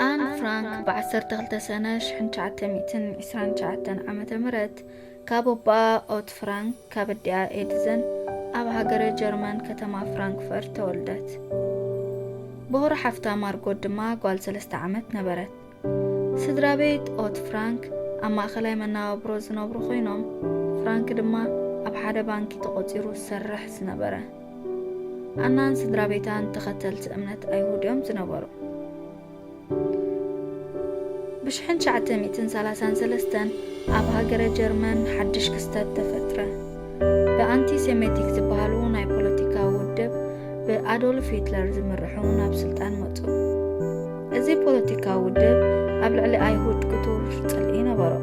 ኣን ፍራንክ ብ12 ሰነ 1929 ዓ.ም ካብ ኣቦኣ ኦት ፍራንክ ካብ ኣዲኣ ኤድዘን ኣብ ሃገረ ጀርመን ከተማ ፍራንክፈርት ተወልደት። ብኹሪ ሓፍታ ማርጎት ድማ ጓል ሰለስተ ዓመት ነበረት። ስድራ ቤት ኦት ፍራንክ ኣብ ማእከላይ መነባብሮ ዝነብሩ ኮይኖም፣ ፍራንክ ድማ ኣብ ሓደ ባንኪ ተቖጺሩ ዝሰርሕ ዝነበረ። ኣናን ስድራ ቤታን ተኸተልቲ እምነት ኣይሁድ እዮም ዝነበሩ። ብሽሕን ትሽዓተ ሚእትን ሰላሳን ሰለስተን ኣብ ሃገረ ጀርመን ሓድሽ ክስተት ተፈጥረ። ብኣንቲሴሜቲክ ዝበሃሉ ናይ ፖለቲካ ውድብ ብኣዶልፍ ሂትለር ዝምርሑ ናብ ስልጣን መጹ። እዚ ፖለቲካዊ ውድብ ኣብ ልዕሊ ኣይሁድ ክቱር ጽልኢ ነበሮ።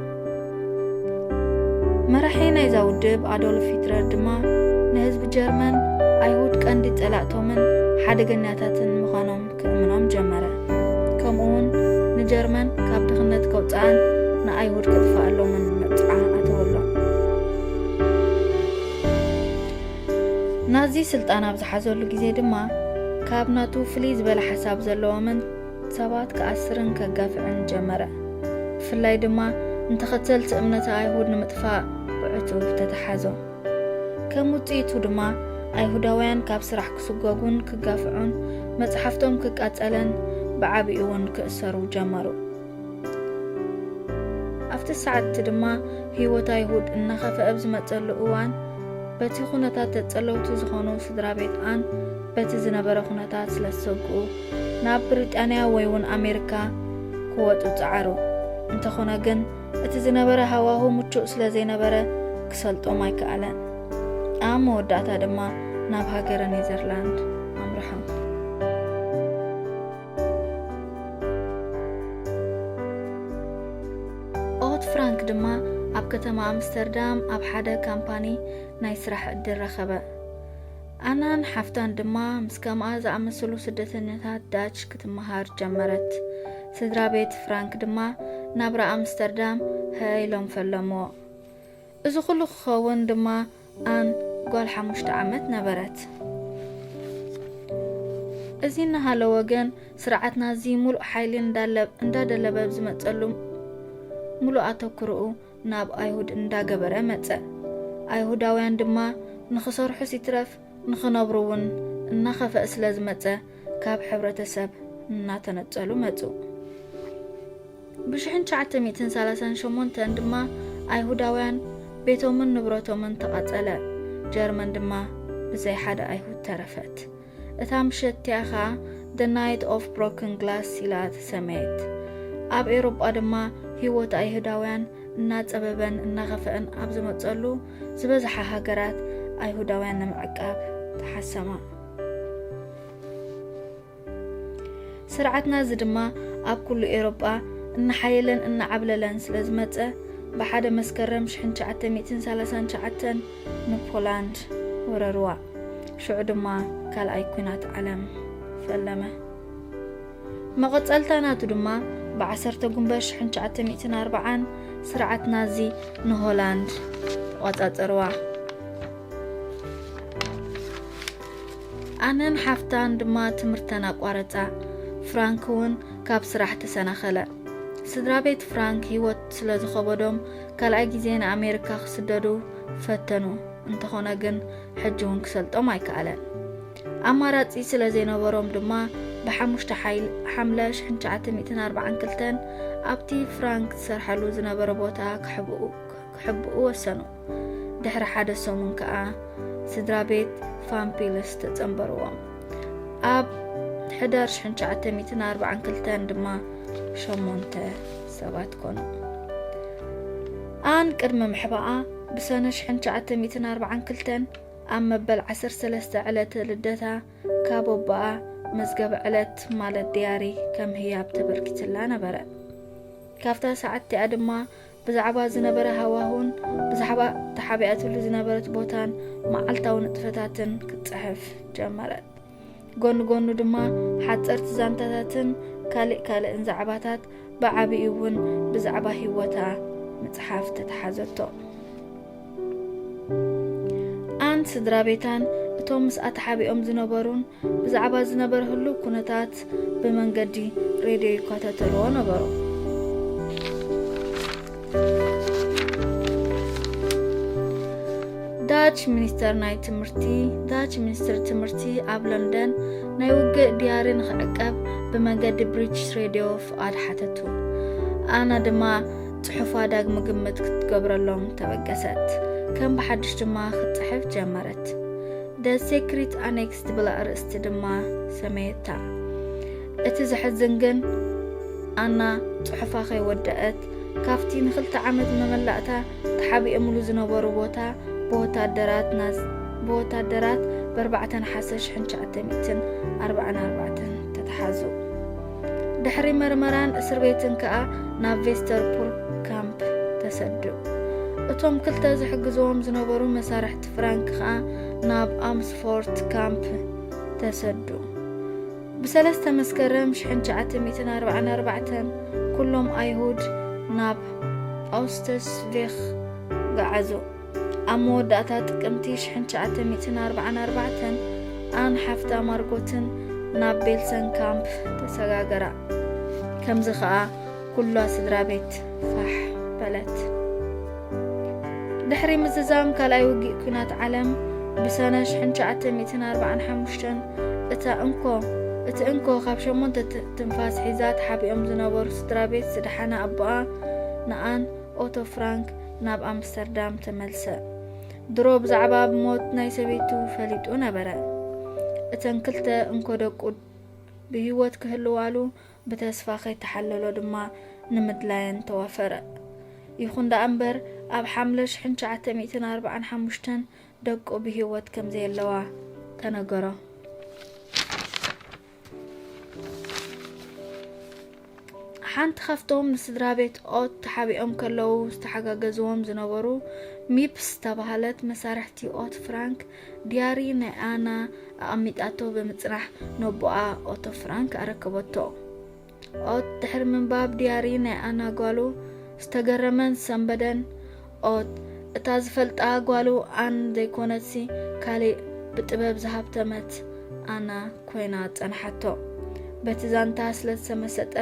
መራሒ ናይዛ ውድብ ኣዶልፍ ሂትለር ድማ ንህዝቢ ጀርመን ኣይሁድ ቀንዲ ጸላእቶምን ሓደገኛታትን ምዃኖም ክእምኖም ጀመረ። ከምኡውን ንጀርመን ካብ ድኽነት ከውጽኣን ንኣይሁድ ከጥፍኣሎምን መብጽዓ ኣተወሎም። ናዚ ስልጣን ኣብ ዝሓዘሉ ግዜ ድማ ካብ ናቱ ፍልይ ዝበለ ሓሳብ ዘለዎምን ሰባት ክኣስርን ከጋፍዕን ጀመረ። ብፍላይ ድማ ንተኸተልቲ እምነተ ኣይሁድ ንምጥፋእ ብዕቱብ ተተሓዞ። ከም ውጽኢቱ ድማ ኣይሁዳውያን ካብ ስራሕ ክስጎጉን ክጋፍዑን፣ መጽሓፍቶም ክቃጸልን ብዓቢኡ ውን ክእሰሩ ጀመሩ። ኣብቲ ሰዓት እቲ ድማ ህይወት ኣይሁድ እናኸፍኣ ኣብ ዝመጸሉ እዋን በቲ ኩነታት ተጸለውቲ ዝኾኑ ስድራ ቤት ኣን በቲ ዝነበረ ኩነታት ስለ ዝሰግኡ ናብ ብሪጣንያ ወይ ውን ኣሜሪካ ክወጹ ጸዓሩ። እንተኾነ ግን እቲ ዝነበረ ሃዋሁ ምቹእ ስለ ዘይነበረ ክሰልጦም ኣይከኣለን። ኣብ መወዳእታ ድማ ናብ ሃገረ ኔዘርላንድ ኣምርሖም። ኦት ፍራንክ ድማ ኣብ ከተማ ኣምስተርዳም ኣብ ሓደ ካምፓኒ ናይ ስራሕ ዕድል ረኸበ። ኣናን ሓፍታን ድማ ምስ ከምኣ ዝኣመሰሉ ስደተኛታት ዳች ክትመሃር ጀመረት። ስድራ ቤት ፍራንክ ድማ ናብራ ኣምስተርዳም ህእ ኢሎም ፈለምዎ። እዚ ኹሉ ክኸውን ድማ ኣን ጓል ሓሙሽተ ዓመት ነበረት። እዚ እናሃለወ ግን ስርዓት ናዚ ሙሉእ ሓይሊ እንዳደለበ ብዝመጸሉ ሙሉእ ኣተኩርኡ ናብ ኣይሁድ እንዳገበረ መጸ። ኣይሁዳውያን ድማ ንኽሰርሑስ ይትረፍ ንኽነብሩ እውን እናኸፈእ ስለ ዝመጸ ካብ ሕብረተሰብ እናተነጸሉ መጹ። ብሽሕን ትሽዓተ ሚእትን ሰላሳን ሸሞንተን ድማ ኣይሁዳውያን ቤቶምን ንብረቶምን ተቓጸለ፣ ጀርመን ድማ ብዘይ ሓደ ኣይሁድ ተረፈት። እታ ምሸት እቲኣ ኸኣ The Night of Broken Glass ኢላ ተሰመየት። ኣብ ኤውሮጳ ድማ ህይወት ኣይሁዳውያን እናጸበበን እናኸፍአን ኣብ ዝመጸሉ ዝበዝሓ ሃገራት ኣይሁዳውያን ንምዕቃብ ተሓሰማ። ስርዓትና እዚ ድማ ኣብ ኩሉ ኤውሮጳ እናሓየለን እናዓብለለን ስለ ዝመጸ ብሓደ መስከረም ሽሕን ትሽዓተ ሚእትን ሰላሳን ትሽዓተን ንፖላንድ ወረርዋ። ሽዑ ድማ ካልኣይ ኩናት ዓለም ፈለመ። መቐጸልታ ናቱ ድማ ብዓሰርተ ጉንበት ሽሕን ትሽዓተ ሚእትን ኣርብዓን ስርዓት ናዚ ንሆላንድ ተቖጻጸርዋ። ኣነን ሓፍታን ድማ ትምህርተን ኣቋረጻ። ፍራንክ እውን ካብ ስራሕ ተሰናኸለ። ስድራ ቤት ፍራንክ ህይወት ስለ ዝኸበዶም ካልኣይ ግዜ ንኣሜሪካ ክስደዱ ፈተኑ። እንተኾነ ግን ሕጂ እውን ክሰልጦም ኣይከኣለን። ኣማራጺ ስለ ዘይነበሮም ድማ ብሓሙሽተ ሓምለ ሽሕን ትሽዓተ ሚእትን ኣርባዓን ክልተን ኣብቲ ፍራንክ ዝሰርሓሉ ዝነበረ ቦታ ክሕብኡ ወሰኑ። ድሕሪ ሓደ ሰሙን ከኣ ስድራ ቤት ፋምፒልስ ተጸንበርዎም። ኣብ ሕዳር ሽሕን ትሽዓተ ሚእትን ኣርባዓን ክልተን ድማ ሸሞንተ ሰባት ኮኑ። ኣን ቅድሚ ምሕባኣ ብሰነ ሽሕን ትሽዓተ ሚእትን ኣርብዓን ክልተን ኣብ መበል ዓሰርተ ሰለስተ ዕለተ ልደታ ካብ ኣቦኣ መዝገበ ዕለት ማለት ድያሪ ከም ህያብ ተበርኪትላ ነበረ ካብታ ሰዓት እቲኣ ድማ ብዛዕባ ዝነበረ ሃዋሁን ብዛዕባ ተሓቢኣትሉ ዝነበረት ቦታን መዓልታዊ ንጥፈታትን ክትፅሕፍ ጀመረት ጎኑ ጎኑ ድማ ሓፀርቲ ዛንታታትን ካልእ ካልእን ዛዕባታት ብዓብዩ እውን ብዛዕባ ህይወታ ምፅሓፍ ተተሓዘቶ ኣን ስድራ ቤታን እቶም ምስኣ ተሓቢኦም ዝነበሩን ብዛዕባ ዝነበረ ህሉው ኩነታት ብመንገዲ ሬድዮ ይከታተልዎ ነበሩ። ዳች ሚኒስተር ናይ ትምህርቲ ዳች ሚኒስትር ትምህርቲ ኣብ ለንደን ናይ ውግእ ድያሪ ንክዕቀብ ብመንገዲ ብሪቲሽ ሬድዮ ፍቓድ ሓተቱ ኣና ድማ ጽሑፋ ዳግሚ ግምት ክትገብረሎም ተበገሰት ከም ብሓድሽ ድማ ክትጽሕፍ ጀመረት ደ ሴክሪት ኣኔክስ ትብል ኣርእስቲ ድማ ሰመየታ እቲ ዘሕዝን ግን ኣና ጽሑፋ ከይወደአት ካብቲ ንኽልተ ዓመት መመላእታ ተሓቢኦምሉ ዝነበሩ ቦታ ብወታደራት ናዝ ብወታደራት በርባዕተ ነሓሰ ሽሕን ትሽዓተ ሚእትን ኣርባዓን ኣርባዕተን ተተሓዙ። ድሕሪ መርመራን እስር ቤትን ከኣ ናብ ቬስተርፑር ካምፕ ተሰዱ። እቶም ክልተ ዝሕግዝዎም ዝነበሩ መሳርሕቲ ፍራንክ ከኣ ናብ ኣምስፎርት ካምፕ ተሰዱ። ብሰለስተ መስከረም ሽሕን ትሽዓተ ሚእትን ኣርባዓን ኣርባዕተን ኩሎም ኣይሁድ ናብ ኣውስተስቪኽ ገዓዙ። ኣብ መወዳእታ ጥቅምቲ ሽሕን ትሽዓተ ሚእትን ኣርባዓን ኣርባዕተን ኣን ሓፍታ ማርጎትን ናብ ቤልሰንካምፕ ተሰጋገራ። ከምዚ ከኣ ኩላ ስድራ ቤት ፋሕ በለት። ድሕሪ ምዝዛም ካልኣይ ውግእ ኲናት ዓለም ብሰነ ሽሕን ትሽዓተ ሚእትን ኣርብዓን ሓሙሽተን እታ እንኮ እቲ እንኮ ካብ ሸሞንተ ትንፋስ ሒዛ ተሓቢኦም ዝነበሩ ስድራ ቤት ዝደሓነ ኣቦኣ ንኣን ኦቶ ፍራንክ ናብ ኣምስተርዳም ተመልሰ። ድሮ ብዛዕባ ሞት ናይ ሰበይቱ ፈሊጡ ነበረ። እተን ክልተ እንኮ ደቁ ብህይወት ክህልዋሉ ብተስፋ ከይተሓለሎ ድማ ንምድላየን ተዋፈረ። ይኹን ደኣ እምበር ኣብ ሓምለ ሽሕን ትሽዓተ ሚእትን ኣርብዓን ሓሙሽተን ደቁ ብህይወት ከም ዘየለዋ ተነገሮ። ሓንቲ ካብቶም ንስድራቤት ኦት ተሓቢኦም ከለዉ ዝተሓጋገዝዎም ዝነበሩ ሚፕስ ዝተባህለት መሳርሕቲ ኦት ፍራንክ ዲያሪ ናይ ኣና ኣቐሚጣቶ ብምጽናሕ ነቦኣ ኦቶ ፍራንክ ኣረከበቶ። ኦት ድሕሪ ምንባብ ዲያሪ ናይ ኣና ጓሉ ዝተገረመን ሰንበደን። ኦት እታ ዝፈልጣ ጓሉ ኣን ዘይኮነትሲ ካሊእ ብጥበብ ዝሃብተመት ኣና ኮይና ጸንሓቶ። በቲ ዛንታ ስለ ዝተመሰጠ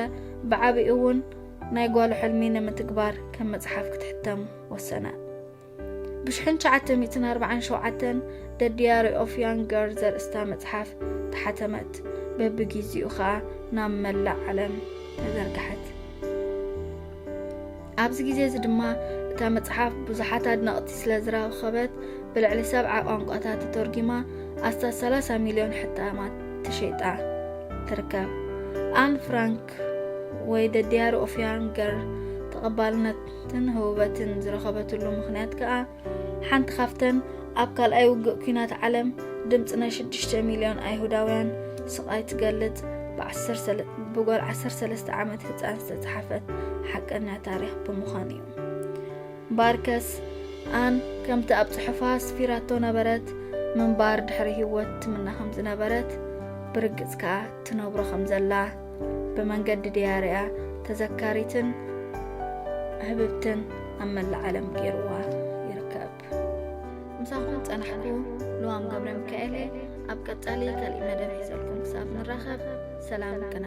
ብዓቢኡ'ውን ናይ ጓሉ ሕልሚ ንምትግባር ከም መጽሓፍ ክትሕተም ወሰነ። ብሽሕን ትሽዓተ ሚእትን ኣርባዓን ሸውዓተን ደ ዲያሪ ኦፍ ያንግ ገርል ዘርእስታ መጽሓፍ ተሓተመት። በብጊዜኡ ኸኣ ናብ መላእ ዓለም ተዘርግሐት። ኣብዚ ግዜ እዚ ድማ እታ መጽሓፍ ብዙሓት ኣድነቕቲ ስለ ዝረኸበት ብልዕሊ ሰብዓ ቋንቋታት ተተርጒማ ኣስታት ሰላሳ ሚልዮን ሕታማት ተሸይጣ ትርከብ። ኣን ፍራንክ ኒውዮርክ ወይ The Diary of Young Girl ተቐባልነትን ህውበትን ዝረኸበትሉ ምኽንያት ከኣ ሓንቲ ካብተን ኣብ ካልኣይ ውግእ ኲናት ዓለም ድምፂ ናይ 6 ሚልዮን ኣይሁዳውያን ስቓይ ትገልጽ ብጓል 13 ዓመት ህጻን ዝተጽሓፈት ሓቀኛ ታሪኽ ብምዃን እዩ። ባርከስ ኣን ከምቲ ኣብ ጽሑፋ ኣስፊራቶ ነበረት፣ ምንባር ድሕሪ ህይወት ትምነ ከም ዝነበረት፣ ብርግጽ ከኣ ትነብሮ ከም ዘላ፣ ብመንገዲ ድያሪኣ ተዘካሪትን ህብብትን ኣብ መላእ ዓለም ገይርዋ ይርከብ። ምሳኹም ጸናሕኩ ልዋም ገብረ ሚካኤል እየ። ኣብ ቀጻሊ ካልእ መደብ ሒዘልኩም ክሳብ ንራኸብ ሰላም ቅነ